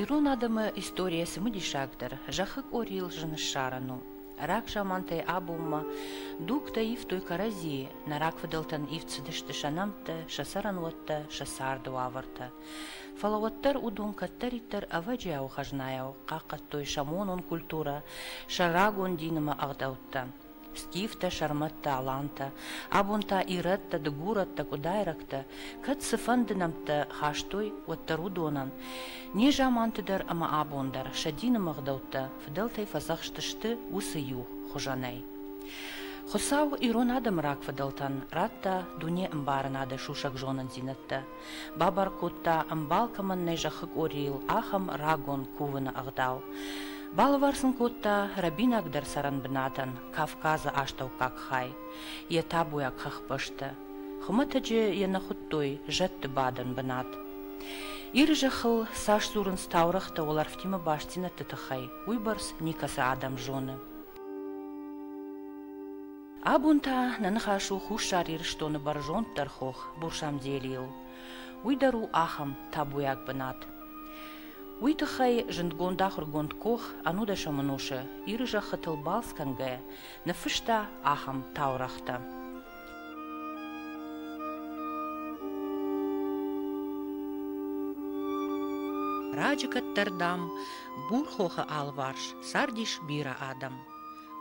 Ирон адӕмы историйӕ цымыдисагдӕр зӕххы къорийыл зын ссарӕн у. Рагзамантӕй абонмӕ дугтӕ ивтой кӕрӕдзийы, нӕ рагфыдӕлтӕн ивд цыдысты сӕ нӕмттӕ, сӕ цӕрӕнуӕттӕ, сӕ царды уавӕртӕ. Фӕлӕ уӕддӕр уыдон кӕддӕриддӕр ӕвӕджиау хӕзнайау хъахъхъӕдтой сӕ монон культурӕ, сӕ рагон дин ӕмӕ ӕгъдӕуттӕ. скифтӕ, сӕрмӕттӕ, алантӕ, абон та ирӕттӕ, дыгурӕттӕ, къуыдайрӕгтӕ кӕд цыфӕнды нӕмттӕ хастой, уӕддӕр уыдонӕн незаманты дӕр ӕмӕ абон дӕр сӕ дины мгъдӕуттӕ фыдӕлтӕй фӕдзӕхстысты уыцы иу хуызӕнӕй. Хуыцау ирон адӕмы рагфыдӕлтӕн радта дунеӕмбарынады сусӕг зонындзинӕдтӕ Бабар кодта, ӕмбал кӕмӕн нӕй зӕххы къорийыл, ахӕм рагон кувыны ӕгъдау. Балӕвар сын кодта рӕбинагдӕр цӕрӕнбынатӕн Кавказы астӕуккаг хай, йӕ табуйаг хӕхбӕсты. Хуымӕтӕджы йӕ нӕ хуыдтой зӕдты бадӕн бынат. Иры зӕххыл цас дзурынц таурӕгътӕ уӕлӕрвтимӕ бастдзинӕдты тыххӕй, уыйбӕрц никӕцы адӕм зоны. Абон та нӕ ныхас у Хуссар Ирыстоны бӕрзонддӕр хох Бурсамделийыл. Уый дӕр у ахӕм табуйаг бынат. Уый тыххӕй зындгонд ахуыргонд Кох Анудашама Ноша Иры зӕххытыл балц кӕнгӕйӕ ныффыста ахӕм таурӕгътӕ. Раджы кӕддӕр, дам, Бурхохы алыварс цардис бирӕ адӕм.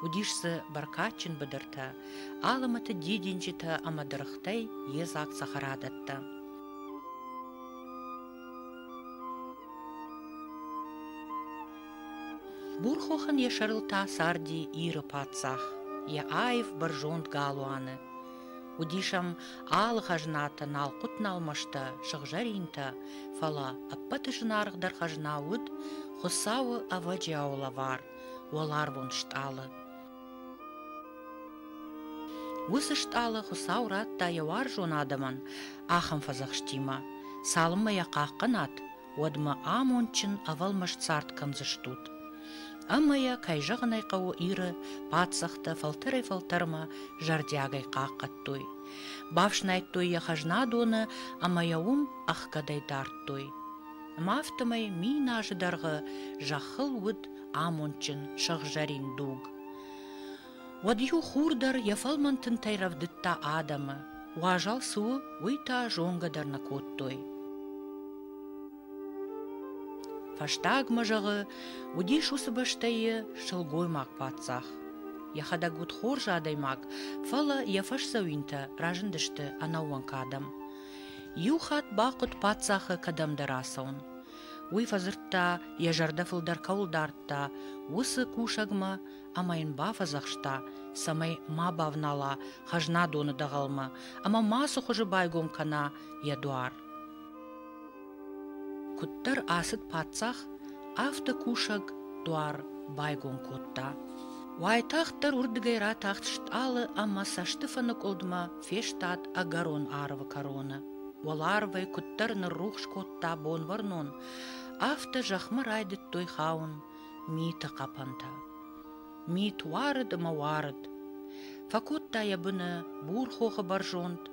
Уыдис дзы бӕркадджын быдыртӕ, алымӕты дидинджытӕ ӕмӕ дыргътӕй йедзаг цӕхӕрадӕттӕ. Бурхохын йӕ сӕрыл та царди Иры паддзах, йӕ аив бӕрзонд галуаны. Уыдис ӕм алы хӕзнатӕ налхъуыт-налмӕстӕ, сыгъзӕринтӕ, фӕлӕ ӕппӕты зынаргъдӕр хӕзна уыд Хуыцауы ӕвӕджиауы лӕвар, уӕларвон стъалы. Уыцы стъалы Хуыцау радта йӕ уарзон адӕмӕн ахӕм фӕдзӕхстимӕ, цалынмӕ йӕ хъахъхъӕнат, уӕдмӕ амондджын ӕвӕлмаст цард кӕндзыстут. Ӕмӕ йӕ, кӕй зӕгъын ӕй хъӕуы, Иры паддзӕхтӕ фӕлтӕрӕй-фӕлтӕрмӕ зӕрдиагӕй хъахъхъӕдтой, бафснайдтой йӕ хӕзнадоны ӕмӕ йӕ уым ӕхгӕдӕй дардтой. афтӕмӕй мин азы дӕргъы зӕххыл уыд амондджын сыгъзӕрин дуг. Уӕд иу хур дӕр йӕ фӕлмӕн тынтӕй рӕвдыдта адӕмы, уазал цы у, уый та зонгӕ дӕр нӕ кодтой. Фӕстагмӕ, зӕгъы, уыдис уыцы бӕстӕйы сылгоймаг паддзах. Йӕхӕдӕг уыд хорз адӕймаг, фӕлӕ йӕ фӕсдзӕуинтӕ разындысты ӕнӕууӕнк адӕм. Иу хатт бахъуыд паддзахы кӕдӕмдӕр ацӕуын. Уый фӕдзырдта, йӕ зӕрдӕ фылдӕр кӕуыл дардта, уыцы кусӕгмӕ ӕмӕ йын бафӕдзӕхста, цӕмӕй ма бавнала хӕзнадоны дӕгъӕлмӕ ӕмӕ ма цы хуызы байгом кӕна йӕ дуар. Куыддӕр ацыд паддзах, афтӕ кусӕг дуар байгом кодта. Уайтагъддӕр уырдыгӕй ратахт стъалы ӕмӕ цӕстыфыны къуылдмӕ фестад ӕгӕрон арвы кӕроны. Уӕларвӕй куыддӕр ныррухс кодта бонвӕрнон, афтӕ зӕхмӕ райдыдтой хауын миты хъӕпӕнтӕ. Мит уарыд ӕмӕ уарыд. Фӕкодта йӕ быны бурхохы бӕрзонд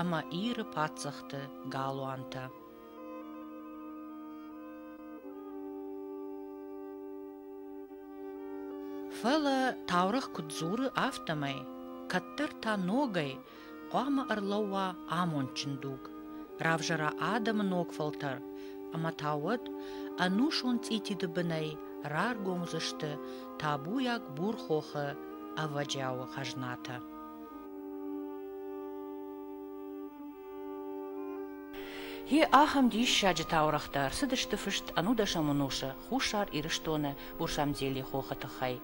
ӕмӕ Иры паддзӕхты галуантӕ. Фӕлӕ таурӕгъ куыд дзуры, афтӕмӕй, кӕддӕр та ногӕй хъуамӕ ӕрлӕууа амондджын дуг, равзара адӕмы ног фӕлтӕр, ӕмӕ та уӕд ӕнусон цъититы бынӕй раргом уыдзысты табуйаг Бурхохы ӕвӕджиауы хӕзнатӕ. Йе ахӕм диссаджы таурӕгътӕ ӕрцыдысты фыст ӕнудӕсӕм ӕнусы Хуссар Ирыстоны Бурсамдзели хохы тыххӕй.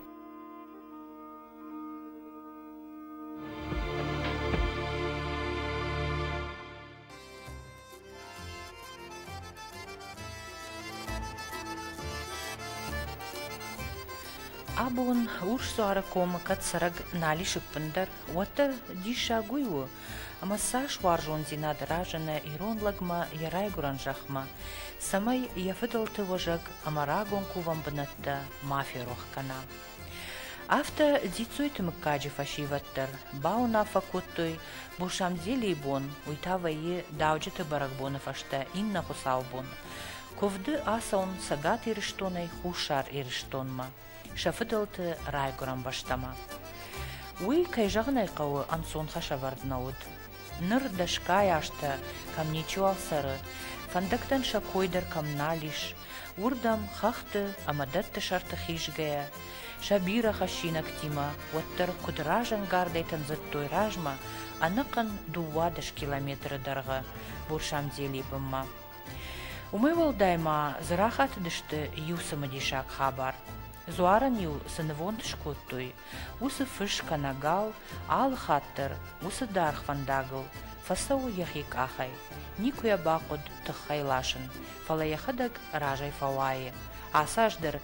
Абон урсдуары комы кӕд цӕрӕг нал ис ӕппындӕр, уӕддӕр диссаг уый у, ӕмӕ цас уарзондзинад разыны ирон лӕгмӕ йӕ райгуырӕн зӕхмӕ, цӕмӕй йӕ фыдӕлты уӕзӕг ӕмӕ рагон кувӕн бынӕттӕ ма ферох кӕна. Афтӕ Дзиццойты мыггаджы фӕсивӕд дӕр бауынаффӕ кодтой, Бурсамдзелийы бон, уый та вӕййы дауджыты бӕрӕгбоны фӕстӕ иннӕ хуыцаубон, куывды ацӕуын Цӕгат Ирыстонӕй Хуссар Ирыстонмӕ, сӕ фыдӕлты райгуырӕн бӕстӕмӕ. Уый, кӕй зӕгъын ӕй хъӕуы, ӕнцон хӕсӕвӕрд нӕ уыд. Ныр дӕсгай азтӕ кӕм ничиуал цӕры, фӕндӕгтӕн сӕ кой дӕр кӕм нал ис, уырдӕм хӕхты ӕмӕ дӕтты сӕрты хизгӕйӕ, сӕ бирӕ хӕссинӕгтимӕ уӕддӕр куыд разӕнгардӕй тындзыдтой размӕ ӕнӕхъӕн дыууадӕс километры дӕргъы Бурсамдели бынмӕ. Уымӕй уӕлдай ма дзы рахатыдысты иу цымыдисаг хабар. Дзуарӕн-иу цы нывонд скодтой, уыцы фыс кӕнӕ гал алы хатт дӕр уыцы даргъ фӕндагыл фӕцӕуы йӕхи къахӕй, никуы йӕ бахъуыд тыххӕй ласын, фӕлӕ йӕхӕдӕг разӕй фӕуайы. Ацы аз дӕр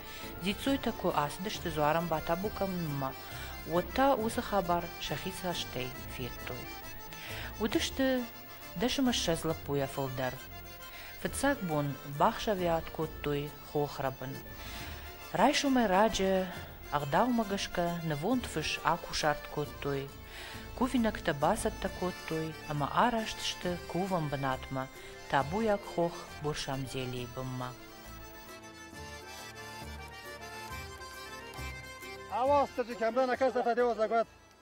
дзиццойтӕ куы ацыдысты дзуарӕн батабу кӕнынмӕ, уӕд та уыцы хабар сӕхи цӕстӕй федтой. Уыдысты дӕсымӕ ссӕдз лӕппуйӕ фылдӕр. Фыццаг бон бахсӕвиат кодтой хохрӕбын. Райсомӕй раджы, ӕгъдаумӕ гӕсгӕ, нывонд фыс акусарт кодтой, кувинӕгтӕ бацӕттӕ кодтой ӕмӕ араст сты кувӕн бынатмӕ, табуйаг хох Бурсамзелийы бынмӕ. Ава, стачи камрана каста та девозагват.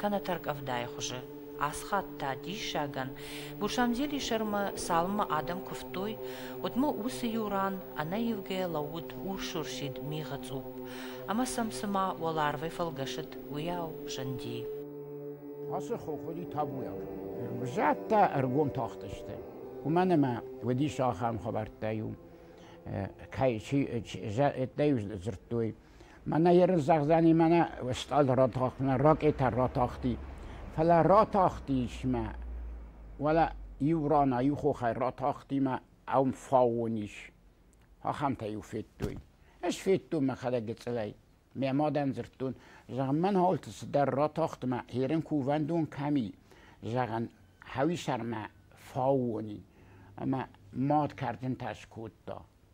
кӕнӕ тӕркъӕвдайы хуызы. Ацы хатт та диссагӕн, Гушамзели сӕрмӕ цалынмӕ адӕм куывтой, уӕдмӕ уыцы-иу ран ӕнӕивгӕйӕ лӕууыд урс-урсид мигъы цъупп, ӕмӕ сӕм цыма уӕларвӕй фӕлгӕсыд, уыйау зынди. Ацы хохыри табуйаг зӕдтӕ ӕргом тахтысты, уымӕн ӕмӕ уыдис ахӕм хабӕрттӕ-иу кӕй чи, дӕ-иу дзырдтой, Мӕнӕ ерысдзӕгъдзӕни мӕнӕ стъал ротахмӕ, ракъетӕ ротахти. Фӕлӕ ратахти исмӕ, уалӕ иу рана, иу хохӕй ратахти мӕ ам фаон ис. Ахӕмтӕ-иу федтой. Ӕз федтон мӕхӕдӕг гыцъылӕй. Мӕ мадӕн дзырдтон, зӕгъын, мӕн хаулты цыдӕр ратахтмӕ, херӕн куы увӕндон кӕми, зӕгъын, хӕуисӕрмӕ фаон и. Ӕмӕ мад кӕрдзынтӕ скодта.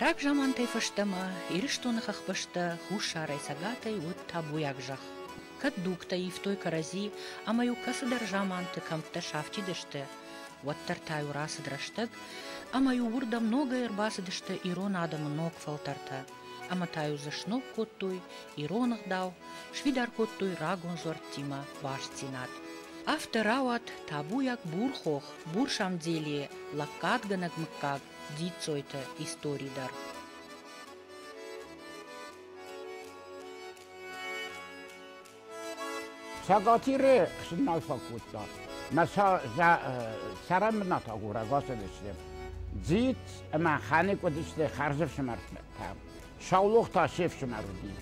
Рагзамантӕй фӕстӕмӕ Ирыстоны хӕхбӕстӕ хуссарӕй цӕгатӕй уыд табуйаг зӕхх. Кӕд дугтӕ ивтой кӕрӕдзи ӕмӕ-иу кӕцыдӕр заманты кӕмттӕ сафтидысты, уӕддӕр та-иу рацыд рӕстӕг, ӕмӕ-иу уырдӕм ногӕй ӕрбацыдысты ирон адӕмы ног фӕлтӕртӕ. ӕма та-иу дзы сног кодтой ирон ӕгъдау, сфидар кодтой рагон зуӕрттимӕ бастдзинад. Афтӕ рауад табуйаг бурхох, бурсамделийӕ лӕггадгӕнӕг мыггаг Дзиццойты истори дӕр. Цӕгатиры хсынмӕ фӕкодта. Мӕ цӕрӕнбынат агурӕг ацыдысты. Дзиц ӕмӕ Ханек уыдысты хӕрзӕфсымӕртӕ. Саулох та се фсымӕр уыди.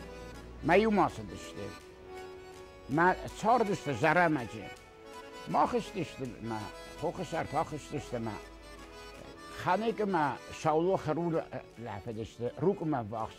Мӕ иу ма цыдысты. Мӕ цардысты Зӕрӕмӕджы. Ма хызтысты мӕ, хохы сӕр та хызтысты мӕ. Ханекы мӕ Саулох рулы лафыдысты, рукъымӕ ввахс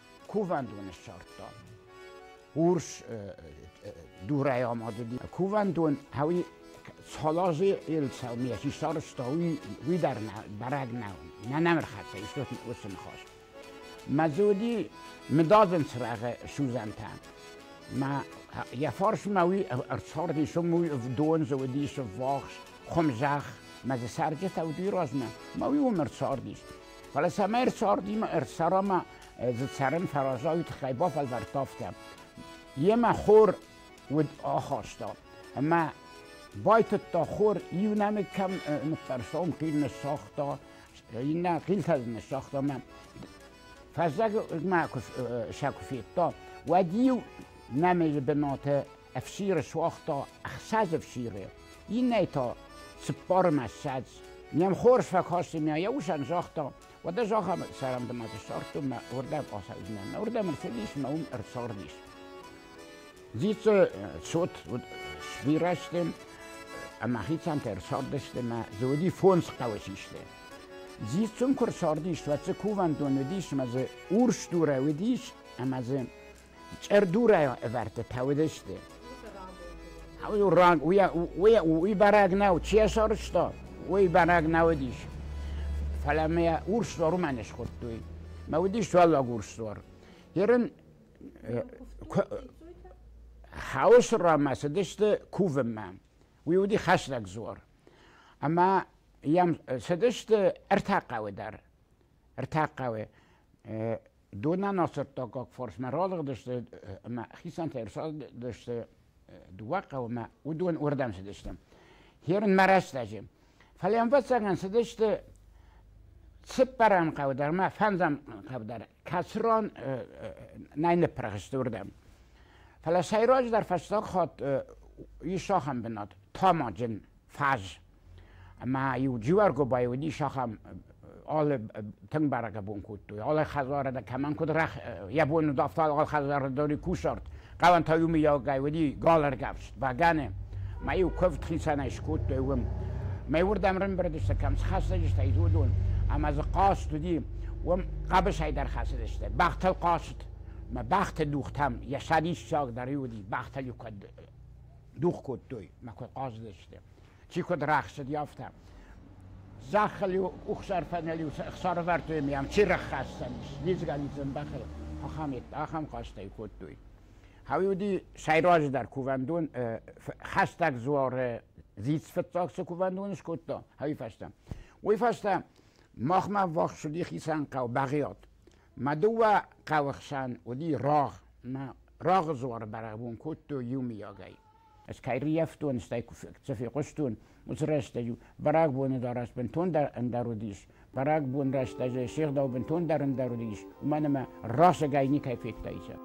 кувӕндоны ссардта урс дурӕй амадыди кувӕндон ӕви цалази елцау ми си сарызта уый дӕр бараг нӕу нӕ нӕмрхӕццӕ истот уыцы ныхас мӕ дзы уыди мыдадзын цырагъы сузантӕ мӕ йӕ фарсмӕ уый ӕрцарди дон дзы уыдис вахс хуымзӕх мӕ дзы цӕрджытӕ уыди размӕ мӕ уый уым ӕрцардис Фӕлӕ цӕмӕй ӕрцардимӕ ӕрцӕрама, дзы цӕрын фӕраза, уый тыххӕй бафӕлвӕрдтам. Йемӕ хор уыд ахаста, ӕмӕ байтыдта хор, иу нӕмыг кӕм ныттӕрса, уым хил ныссагъта, иннӕ хилтӕ дзы ныссагъта, ӕмӕ фӕззӕгмӕ сӕ куы федта, уӕд иу нӕмыджы бынаты ӕфсиры суагъта ӕхсӕз ӕфсиры, иннӕ та цыппармӕ ссӕдз. Не мхор фӕкасы мӕ йӕ усӕн загъта, уӕдӕ зӕгъӕм, сӕрӕндымӕ сӕрттым мӕ уырдӕм ацӕудзынӕн, уырдӕм ӕрцыдис мӕ уым ӕрцардис. Дзицы цот уыд сбирӕсты ӕмӕ хицӕнтӕ ӕрцардысты мӕ дзы уыди фондз хъӕуы систы. Дзиццум куы рцардис, уӕд дзы кувӕндон уыдис ӕмӕ дзы урс дурӕ уыдис ӕмӕ дзы Чъырдурӕй ӕвӕрдтытӕ уыдысты. Уый бӕрӕг нау, чи сарызта, уый бӕрӕг нау уыдис. Фӕлӕ мӕ урсдуар уымӕ не схуыдтой. Мӕ уыдис уӕллаг урсдуар. Ерын хаусы рамӕ цыдысты кувынмӕ. Уый уыди хӕстӕг дзуар. Ӕмӕ йӕм цыдысты ӕртӕ хъӕуы дӕр. ӕртӕхъӕуы донӕнасӕттӕггаг фарсмӕ ралыгъдысты ӕмӕ хицӕнтӕ ӕрцӕгъдысты дыууӕ хъӕумӕ, уыдон уырдӕм цыдысты. Херынмӕ рӕстӕджы. Фӕлӕ ӕмвӕццӕгӕн цыдысты цыппӕрӕм хъӕу дӕр ӕмӕ фӕндзӕм хъӕу дӕр, кӕцыран нӕй ныппырх сты уырдӕм. Фӕлӕ сӕйраджыдӕр фӕстаг хатт ис ахӕм бынат, тамаджын фӕз. ӕма-иу Дзиуаргобай уидис ахӕм алы тынг бӕрӕг бон кодтой, алы хӕдзарӕ дӕр кӕмӕн куд рах йӕ бон удавта алы хӕдзарӕ дӕр кусарт, хъалӕнтӕ юмийагӕй уыди галӕргӕфст бӕгӕны, ма-иу куывд хицӕнӕй скодтой уым. Мӕй уырдӕм рымбырдысты, кӕм схӕцыдысты, уыдон, ӕмӕ дзы хъазт уыди, уым хъӕбысӕй дӕр хӕцыдысты, бӕхтыл хъазт, мӕ бӕхты дугътӕм йӕ сӕдиссагдӕр уыди, бӕхтыл-иу куыд дугъ кодтой, ма куыд хъазыдысты. чи куыд рахсыди, афтӕ. Зӕххыл-иу къухсӕрфӕныл-иу сӕрӕвӕрдтой ӕмӕ йӕм чи раххӕссӕнис, лидзгӕ-лидзын бӕхыл, ахӕмӕйттӕ ахӕм хъӕстӕй кодтой. Хауи уыди сӕйраджыдӕр кувӕндон, хӕстӕг дзуары дзиц фыццаг цы кувӕндон скодта, хауи фӕстӕ. Уый фӕстӕ махмӕ ввахс уыди хицӕн хъӕу Бӕгъиат. Мӕ дыууӕ хъӕуы хсӕн уыди рагъ. Мӕ рагъы дзуары бӕрӕгбон кодтой иумиагӕй. Ez кайriefton, és цӕфе хъуыстон, уыцы рӕстӕг-иу бӕрӕгбоны дарӕс бынтондӕр ӕндӕр уыдис. Бӕрӕгбон рӕстӕджы се гъдау бынтондӕр ӕндӕр уыдис, уымӕн ӕмӕ расыгӕй никӕй федтаицӕ.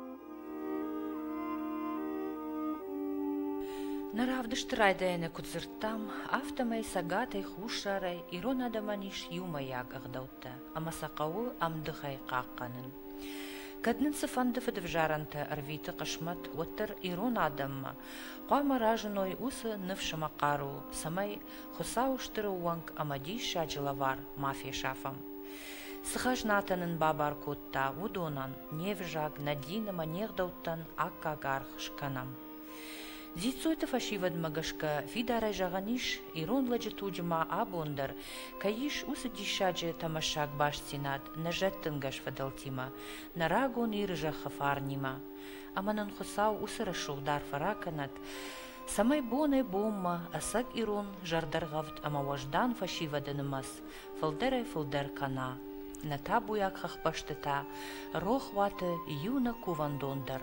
Нӕ равдысты райдайӕны куыд дзырдтам, афтӕмӕй цӕгатӕй, хуссарӕй ирон адӕмӕн ис иумӕйаг ӕгъдӕуттӕ. хъуыддӕгтӕ ӕмӕ сӕ хъӕуы ӕмдыхӕй хъахъхъӕнын. Кӕд нын цыфӕнды фыдывзарӕнтӕ ӕрвиты хъысмӕт, уӕддӕр ирон адӕммӕ хъуамӕ разыной уыцы ныфс ӕмӕ хъару, цӕмӕй Хуыцауы стыр ӕууӕнк ӕмӕ диссаджы лӕвар ма фесафӕм. Цы хӕзнатӕ нын бабар кодта, уыдонӕн, не взаг, нӕ дин ӕмӕ не гъдӕуттӕн аккаг аргъ скӕнӕм. Дзиццойты фӕсивӕдмӕ гӕсгӕ фидарӕй зӕгъӕн ис, ирон лӕджы туджы ма абон дӕр кӕй ис уыцы диссаджы тӕмӕссаг бастдзинад нӕ зӕдтынгӕс фыдӕлтимӕ, нӕ рагон Иры зӕххы фарнимӕ. Ӕмӕ нын Хуыцау уыцы рӕсугъд дӕр фӕракӕнӕд, цӕмӕй бонӕй-бонмӕ ӕцӕг ирон зӕрдӕргъӕвд ӕмӕ уӕздан фӕсивӕды нымӕц фылдӕрӕй-фылдӕр кӕна, нӕ табуйаг хӕхбӕстытӕ, рохуаты иу нӕ кувӕндон дӕр